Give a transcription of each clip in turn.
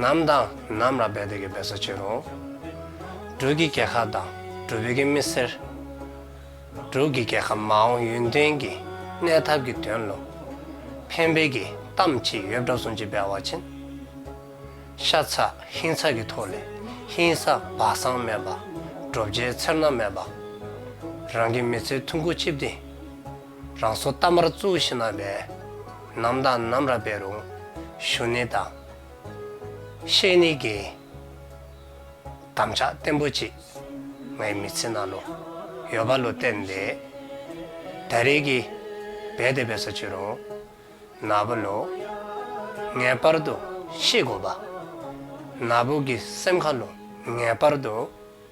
ནམ་དང་ནམ་ལ་འབད་དེ་གི་འབད་ས་ཆེ་རུང། འབྲུག་གི་རྒྱལ་ཁ་དང་འབྲུག་བོད་ཀྱི་མི་སེར། འབྲུག་གི་རྒྱལ་ཁ་མ་འོངས་ཡུན་བརྟན་གྱི་གནས་ཐབས་ཀྱི་དོན་བློ་ཕན་འབེལ་གྱི་གཏམ་ཅི་ཡོད་བསྒྲགས་སོང་ཅི་འབད་བ་བྱིན། ཤ་ཚ་ཧིན་ཚ་གི་ཐོག་ལས་ཧིན་ས་སྦ་གསང་མེད་པ། བྲོ་བྱའི་ཚེར་སྣ་མེད་པ། རང་གི་མི་ཚེ་ཐུང་ཁུ་ཆིབས་ཏེ། རང་སོ་རྟ་དམར་གཙུག་བཞི་ན་བས། ནམ་དང་ནམ་ར་བས་རུང་ཞུ་ནི་དང། ཤེས་ནི་དགེ། དམ་ཆགས་བརྟན་པོ་གཅིག། ངའི་མི་ཚེ་ན་ལོ། ཡོད་པ་ལོ་བསྟན་ཏེ། ད་རེས་ཀྱི། བས་དེ་བས་སོ་ཅི་རུང། ན་བུ་ལོ། ངེས་པར་དུ་ཤེས་དགོས་པ། ན་བུ་གི་སེམས་ཁ་ལོ་ངེས་པར་དུ།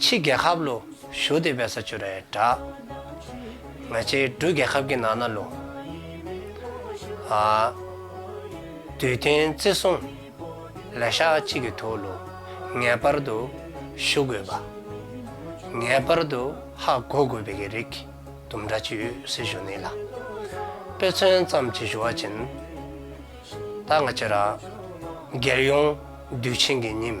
ཕྱི་རྒྱལ་ཁབ་ལོ་ཞོ་དེ་བས་ས་ཆུ་རལ་གྲགས། ང་ཆེ་འབྲུ་རྒྱལ་ཁབ་ཀྱི་ནང་ན་ལོ། དུས་དེང་བརྩི་སྲུང། ལས་ཤག་གཅིག་གི་ཐུགས་ལོ་ངེས་པར་དུ་ཞུ་དགོས་པ། ངེས་པར་དུ་ཧ་གོ་དགོས་པའི་གི་རིགས་དུམ་འདྲ་གཅིག་ཡོད་སྲིད་ཞུ་ནི་ལ། དཔེ་མཚོན་ཙམ་གྱི་ཞུ་བ་བྱིན། ད་ང་ཆེ་ར། རྒྱལ་ཡོངས་དུས་ཆེན་གྱི་ཉིན།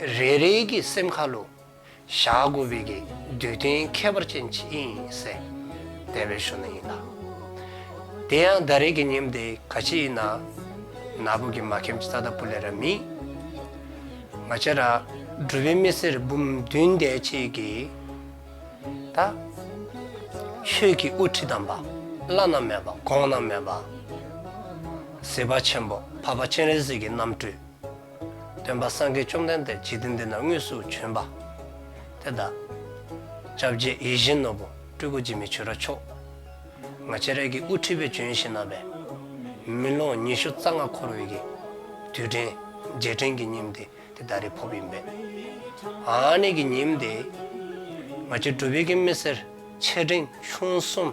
རེ་རེ་གི་སེམས་ཁ་ལོ། བཞག་དགོས་པའི་གི་འདུལ་རྟེན་ཁྱད་པར་ཅན་ཅི་ཡིན་གསལ། དད་པའི་གཞུ་ན་ཡིན་ལ། དེ་ཡང་ཟླ་རེ་གི་ཉིན་དེ་ག་ཕྱི་ཡིན་ན། ན་བུ་གི་མ་ཁེམ་ཙ་ད་པུ་ལེ་ར་མི། མ་ཅ་ར། སྒྲུབ་པའི་མི་སེར་འབུམ་བདུན་འདས་ཆེས་གི། ད། ཆོས་ཀྱི་དབུ་ཁྲིད་དམ་པ། བླ་ན་མེད་པ་དགོངས་ན་མེད་པ། ཟེ་པ་ཆེན་པོ་བྷ་བྷ་སྤྱན་རས་གཟིགས་ཀྱི་རྣམ་སྤྲུལ། སྟོན་པ་སངས་རྒྱས་བཅོམ་ལྡན་འདས་ཇི་ལྟའི་མདུན་ན་དངོས་སུ་བྱོན་པ། དེ་ལྟར། བཅྭ་བརྒྱད་ཡིད་བཞིན་ནོར་བུ་སྤྲུལ་སྐུ་འཇིགས་མེད་ཆོས་ར་མཆོག། ང་ཅེ་རེ་གི་དབུ་ཁྲིད་པའི་བྱོན་ཞིང་བསྣམས་པས། མི་ལོ་ཉི་ཤུ་རྩ་ལྔ་འཁོར་བའི་གི། དུས་དྲན། རྗེས་དྲན་གྱི་ཉིན་དེ་དེ་ད་རེས་ཕོབ་ཡིན་པས། ཨ་ནེ་གི་ཉིན་དེ། ང་ཅེ་སྒྲུབ་ཡི་གེ་མི་སེར་ཆེ་འབྲིང་ཆུང་གསུམ།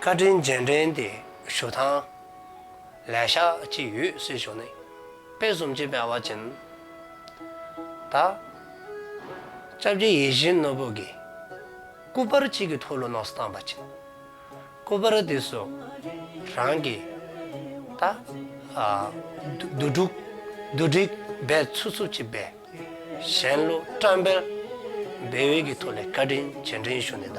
བཀའ་དྲིན་རྗེས་དྲན་གྱི་ཞུ་ཐང། ལས་ཤག་གཅིག་ཡུལ་སྲིད་གཞུང་ནས། དཔེ་གསུམ་གཅིག་པའི་བ་ཅན། ད་སྐྱབས་ཀྱི་ཡིད་བཞིན་ནོར་བུ་དགེ། སྐུ་པར་གཅིག་གི་ཐོ་ལོ་ནགས་སུ་བཏང་བ་ཅན། སྐུ་པར་དེ་སུ་རང་གི། ད་བདུད་དཀྲུགས་བདུད་དཀྲིགས་སྦས་ཚུགས་ཚུགས་ཀྱི་སྦས། གཞན་ལུགས་བཀྲམ་པའི་བེའུ་ཡི་གི་ཐོ་ལས་བཀའ་དྲིན་རྗེས་དྲན་ཞུ་ནས་ད།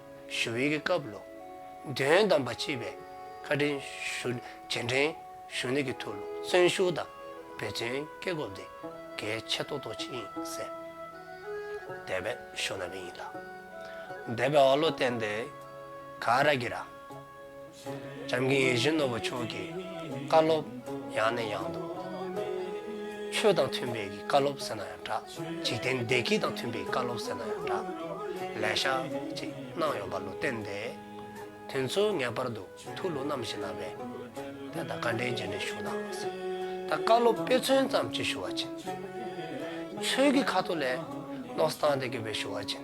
ཞུ་ཡིག་གི་སྐབས་ལོ་འདོན་བདམས་པ་སྤྱི་པའི་ཁ་དྲིན་ཞུ་རྗེས་འབྲེལ་ཞུ་གནས་ཀྱི་ཐོག་ལུགས་བཙན་ཞུ་དང་འབད་བརྩོན་སྐྱེ་སྒོ་དེ་གལ་ཆེ་ཐོག་ཐོག་ཆེན་ཡིན་ཟེར། འདས་པའི་ཞོ་ན་བིན་ཡིན་ལ། འདས་པའི་ཨོ་ལོ་ཏན་ཏེ་ག་ར་གི་ར། འཇམ་མཁའི་ཡེ་ཤེས་ནོར་བུ་མཆོག་གི་བཀའ་སློབ། ཡང་ནས་ཡང་དུ། ཆོས་དང་མཐུན་པའི་གི་བཀའ་སློབ་ཟེར་ན་ཡང་འདྲ། འཇིག་རྟེན་བདེ་སྐྱིད་དང་མཐུན་པའི་བཀའ་སློབ་ཟེར་ན་ཡང་འདྲ། ལས་ཤག་ཅིག་གནང་ཡོང་པ་ལུས་བསྟན་ཏེ། དུས་ཚོད་ངེས་པར་དུ་ཐུགས་ལུགས་རྣམ་བཞི་ནང་བས། དེ་ལྟར་བཀའ་དྲིན་རྗེས་འབྲེལ་ཞུ་གནང་ཟེར། ད་བཀའ་སློབ་དཔེ་མཚོན་ཙམ་གཅིག་ཞུ་བ་བྱིན། ཆོས་ཀྱི་ཁ་ཐུག་ལས། བློ་བཟང་སྟེ་དགེ་བའི་ཞུ་བ་བྱིན།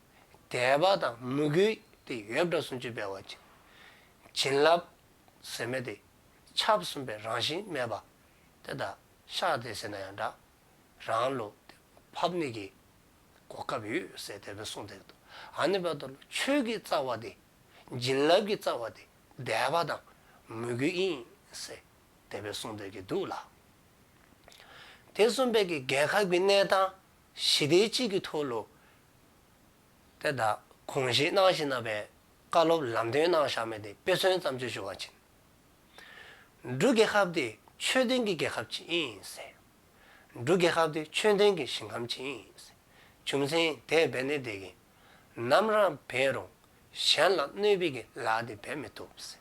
དད་པ་དང་མོས་གུས་ཏེ་ཡོད་དགྲ་སུམ་ཅུ་པའི་བ་ཅན། བྱིན་རླབས་ཟེར་མེད་དེ་ཆབ་གསུམ་པའི་རང་བཞིན་སྨྲས་པ། དེ་དག་ཤ་དེ་ཟེར་ན་ཡང་འདྲ། རང་བློ་དེ་ཕབ་ནི་གི། གོ་སྐབས་ཡོད་སའི་དད་པའི་གསུང་དེ་དག་ཨ་ནི་བ་དོ་ལ་ཆོས་ཀྱི་རྩ་བ་དེ། བྱིན་རླབས་ཀྱི་རྩ་བ་དེ་དད་པ་དང་མོས་གུས་ཡིན་སའི་དད་པའི་གསུང་དེ་གི་འདུག་ལ། དེ་གསུམ་པའི་གི་རྒལ་ཁ་གི་གནས་དང། གཞི་སྡེ་གཅིག་གི་ཐོག་ལོ་དེ་དག་གོང་བཞིན་སྣང་བཞིན་རྣམ་པའི་བཀའ་སློབ་ལམ་སྟོན་གནང་བཞག་མེད་དེ་དཔེ་མཚོན་བརྩམས་ཆོས་བྱུང་བ་བྱིན་འབྲུ་རྒྱལ་ཁབ་དེ་ཆོས་ལྡན་གྱི་རྒྱལ་ཁབ་ཅིག་ཡིན་ཟེར། འབྲུ་རྒྱལ་ཁབ་དེ་ཆོས་ལྡན་གྱི་ཞིང་ཁམས་ཅིག་ཡིན་ཟེར་བྱུང་མཚན་དེས་འབད་ནས་བསྡད་ཀྱིན་ནམ་རང་འབད་རུང་གཞན་ལ་གནོད་སྦིས་ཀྱི་ལག་དེ་འབད་མི་ཐུབ་ཟེར།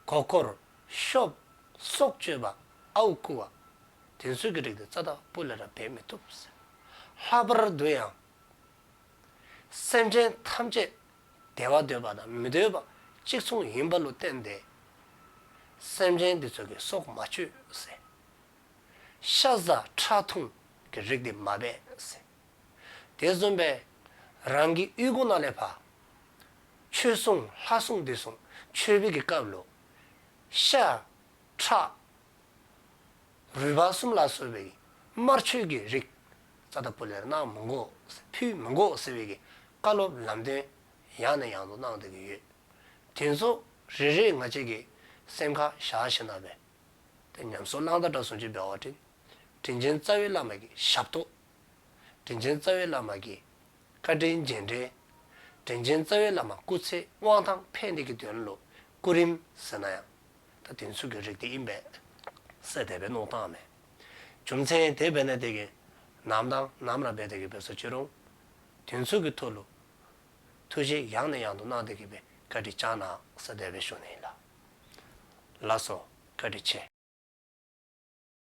གོ་བསྐོར། གཤོབ། སྲོག་གཅོད་པ། ཨའུ་བསྐུལ་བ། དེ་ཚུལ་གྱིས་བསྒྲིགས་ཏེ་རྩ་བདག་པོ་ལས་རབ་འབད་མི་ཐུབ། ལྷག་པར་བསྡུ་ཡང། སེམས་ཅན་ཐམས་ཅད་བདེ་བ་འདོད་པ་དང་མི་འདོད་པ་གཅིག་མཚུངས་ཡིན་པ་ལུགས་བསྟན་ཏེ། སེམས་ཅན་འདི་ཚོ་གི་སྲོག་མ་གཅོད། ཤ་ཟ་ཁྲག་འཐུང་གི་རིགས་འདི་མ་སྦས། དེ་བཟུང་བས། རང་གི་དབུས་གོང་ན་ལས་བྷ། ཆོས་སྲུང་ལྷ་སྲུང་བདུད་སྲུང་ཆོས་སྤེལ་གྱི་སྐབས་ལོ། ཤ། ཁྲག། རུས་བ་གསུམ་ལ་སོགས་པའི་དམར་མཆོད་ཀྱི་རིགས། ཙཱ་ད་པུ་ལེར་གནང་མི་འགོག་ཕུད་མི་འགོག་ཟེར་བའི་བཀའ་སློབ་ལམ་སྟོན་ཡང་ནས་ཡང་དུ་གནང་བསྡད་ཀྱི་ཡོད། དེ་ཚོ་རེ་རེས་ང་བཅས་ཀྱི་སེམས་ཁ་བཞག་ཤེས་ན་བས། དེ་ཉམས་སུ་བླང་དང་དགྲ་ཟུང་ཆོས་སྤེལ་བ་བྲིན། དྲིན་ཆེན་རྩ་བའི་བླ་མ་ཀྱི་ཞབས་ཏོག། དྲིན་ཆེན་རྩ་བའི་བླ་མ་ཀྱི། བཀའ་དྲིན་རྗེས་འབྲེལ། དྲིན་ཆེན་རྩ་བའི་བླ་མ་སྐུ་ཚེ་དབང་ཐང་ཕན་བདེ་གི་དོན་ལོ། སྐུ་རིམ་ཟེར་ན་ཡང། ད་དེང་ཚུགས་ཀྱི་རིགས་དེ་ཡིན་པས། སྲས་དད་པའི་གནོང་སྟངས་མེད། རྒྱུ་མཚན་དེ་བས་ན་དེ་གི། ནམ་དང་ནམ་ལ་འབད་དེ་གི་འབོད་ས་ཅི་རུང། དེང་ཚུགས་ཀྱི་ཐུགས་ལོ། ཐུགས་རྗེ་ཡང་ནས་ཡང་དུ་གནང་དེ་གི་བའི་བཀའ་དྲིན་བཅངས་ནའང་སྲས་དད་པའི་གཞུང་ནས་ཡིན་ལ། ལགས་སོ། བཀའ་དྲིན་ཆེ།